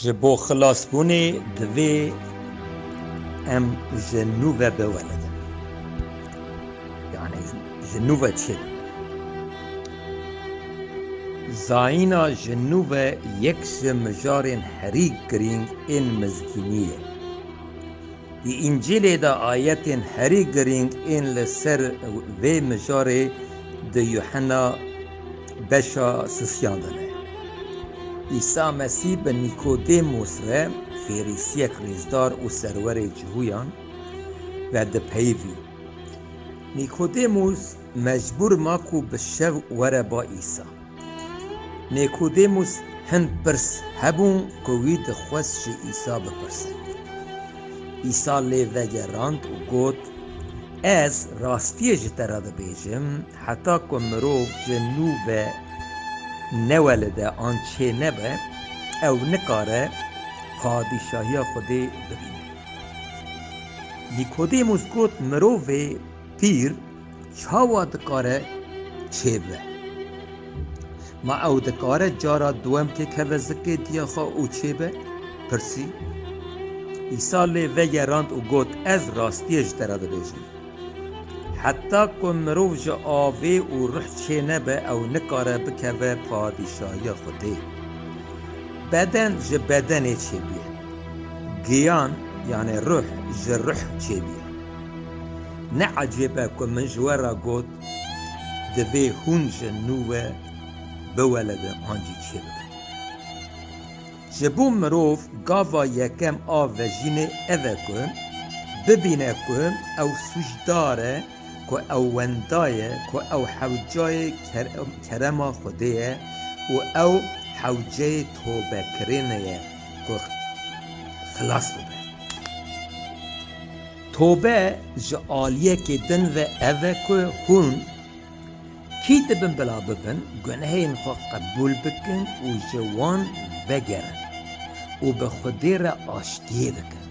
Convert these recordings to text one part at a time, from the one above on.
Ji bo xilasbûnê divê em ji nû ve biwelidin. Yanî ji nû ve çi dibin? Zayîna ji nû ve yek ji mijarên herî girîng ên mizgînî ye. Di Încîlê de ayetên herî girîng ên li ser vê mijarê di Yuhena Beşa sisiyan de ne. Îsa Mesîh bi Nîkodêmos ve Ferîsiyek rêzdar û serwerê cihuyan ve dipeyivî. Nîkodêmos mecbûr ma ku bi şev were ba Îsa. Nîkodêmos hin pirs hebûn ku wî dixwest ji Îsa bipirse. Îsa lê vegerand û got, Ez rastiyê ji te re dibêjim, Heta ku mirov ji nû ve newelide an çênebe, ew nikare Padîşahiya Xwedê bibîne. Nîkodêmûs got, Mirovê pîr çawa dikare çêbibe? Ma ew dikare cara duwem têkeve zikê diya xwe û çêbe? pirsî. Îsa lê vegerand û got, Ez rastiyê ji te re dibêjim, Heta ku mirov ji avê û ruh çênebe ew nikare bikeve padîşahiya Xwedê. Beden ji bedenê çêbûye. Giyan yanê ruh ji ruh çêbûye. Ne ecêb e ku min ji we re got divê hûn ji nû ve biweledin an jî çêbibin. Ji bo mirov gava yekem a vejînê ev e ku bibîne ku ew sûcdar e, ku ew wenda ye, ku ew hewcayê kerema Xwedê ye û ew hewceyê tobekirinê ye ku xilas bibe. Tobe ji aliyekê din ve ev e ku hûn. Kî dibin bila bibin gunehên xwe qebûl bikin û ji wan vegerin û bi Xwedê re aştiyê bikin.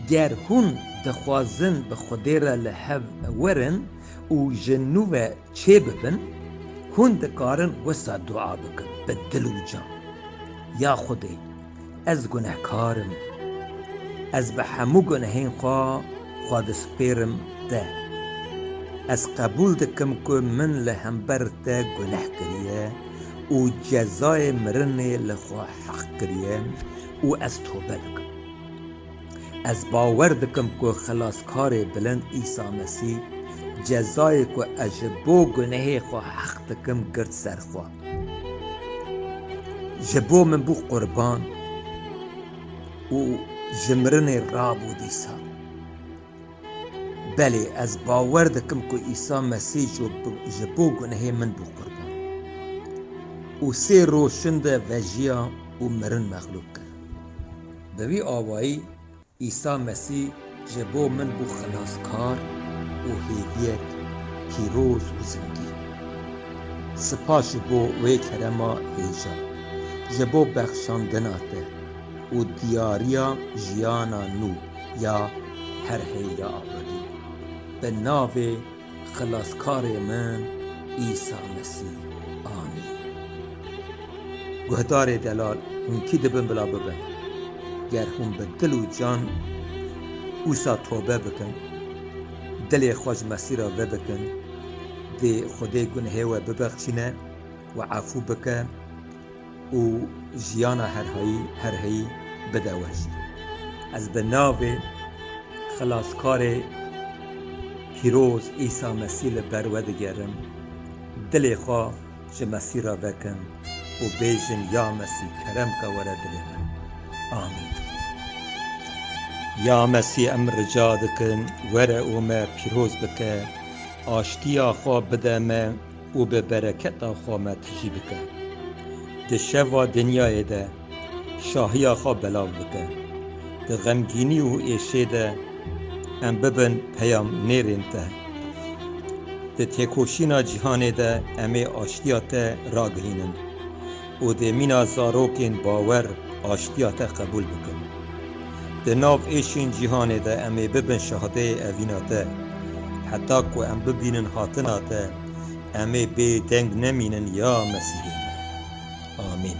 Ger hûn dixwazin bi Xwedê re li hev werin û ji nû ve çê bibin, hûn dikarin wisa dua bikin bi dil û can, Ya Xwedê! Ez gunehkar im. Ez bi hemû gunehên xwe xwe dispêrim te. Ez qebûl dikim ku min li hember te guneh kiriye û cezayê mirinê li xwe heq kiriye û ez tobe dikim. Ez bawer dikim ku Xilaskarê Bilind Îsa Mesîh cezayê ku ez ji bo gunehê xwe heq dikim girt ser xwe. Ji bo min bû qurban û ji mirinê rabû dîsa. Belê ez bawer dikim ku Îsa Mesî ji bo gunehê min bû qurban û sê roj şinde vejiya û mirin mexlûq kir. Bi vî awayî Îsa Mesî ji bo min bû xelaskar û hêviyek pîroz û zindî. Sipas ji bo wê kerema hêja, ji bo bexşandina te û diyariya jiyana nû ya her heyra abadî. Bi navê. Xilaskarê min Îsa Mesî anî. Guhdarê delal hûn kî dibin bila bibin? Ger hûn bi dil û can wisa tobe bikin, dilê xwe ji Mesî re vedikin, dê Xwedê gunehê we bibexçîne, we efû bike, û jiyana her hayî her heyî bide weş. Ez bi navê Xilaskarê Pîroz Îsa Mesî li ber we digerim, dilê xwe ji Mesî re vekin û bêjin ya Mesî kerem ke were dilê min. Amîn. Ya Mesî em rica dikin were û me pîroz bike, aştiya xwe bide me, û bi bereketa xwe me tijî bike. Di şeva dinyayê de şahiya xwe belav bike. Di xemgînî û êşê de em bibin peyamnêrên te. Di têkoşîna cîhanê de em ê aştiya te ragihînin. û dê mîna zarokên bawer aştiya te qebûl bikin. Di nav êşên cîhanê de em ê bibin şahideyê evîna te. Heta ku em bibînin hatina te, em ê bê deng nemînin ya Mesîhê me. Amîn.